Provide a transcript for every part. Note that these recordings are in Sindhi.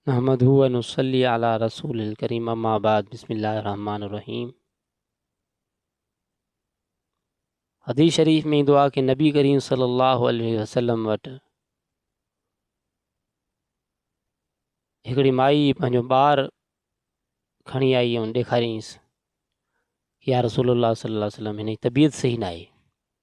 نحمده و نصلي علي رسوله الڪريم اما بعد بسم الله الرحمن الرحيم حديث شريف ۾ ايندو آهي ڪي نبي ڪريم صلي الله عليه وسلم وٽ هڪڙي مائي پنهنجو ٻار کڻي آئي ۽ ڏيکارينس يا رسول الله صلي الله عليه وسلم هن جي طبيعت صحيح ناهي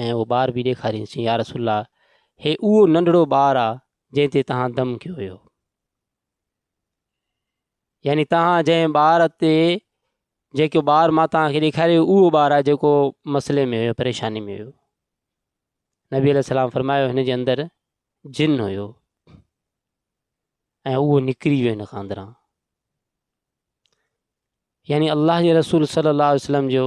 ۽ اهو ٻار به ڏيکارينسين، يا رسول الله! هي اهو ننڍڙو ٻار آ، جنهن تي توهان دم ڪيو هيو. يعني توهان جنهن ٻار تي جيڪو ٻار مان توهان کي ڏيکاريو اهو ٻار آ جيڪو مسئلي ۾ هيو پريشاني ۾ هيو نبي عليه السلام فرمايو هن جي اندر جن هيو ۽ اهو نڪري ويو هن کان اندران يعني الله جي رسول صلي الله عليه وسلم جو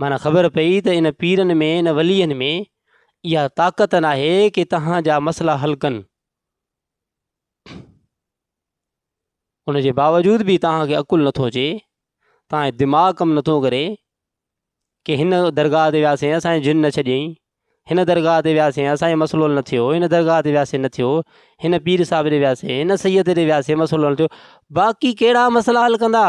معنيٰ خبر پئي ته ان پيرن ۾ ان ولين ۾ اها طاقت ناهي ڪي تهان جا مسئلا حل ڪن ان جي باوجود به تهان کي عقل نٿو اچي تهان جو دماغ ڪم نٿو ڪري ڪي هن درگاهه تي وياسين اسان جي جن نه ڇڏيائين هن درگاهه تي وياسين اسان جو مسئلو حل نه ٿيو هن درگاهه تي وياسين نه ٿيو هن پير صاحب ڏي وياسين هن سيد ڏي وياسين مسئلو حل ٿيو باقي ڪهڙا مسئلا حل ڪندا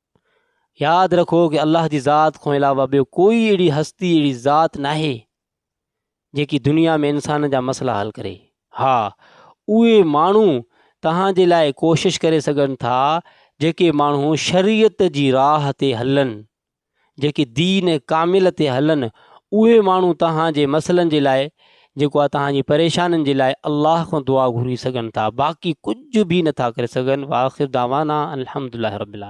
ياد رکو ڪي الله جي ذات کان علاوه ٻيو ڪوئي اهڙي هستي اهڙي ذات ناهي جيڪي دنيا ۾ انسان جا مسئلا حل ڪري ها اهي ماڻهو توهان جي لاء ڪوشش ڪري سگهن ٿا جيڪي ماڻهو شريعت جي راهه تي هلن جيڪي دين ڪامل تي هلن اهي ماڻهو توهان جي مسئلن جي لاء جيڪو آهي توهان جي پريشانين جي لاء الله کان دعا گهري سگهن ٿا باقي ڪجهه به نٿا ڪري سگهن واخر دعوانا الحمد لله رب العالمين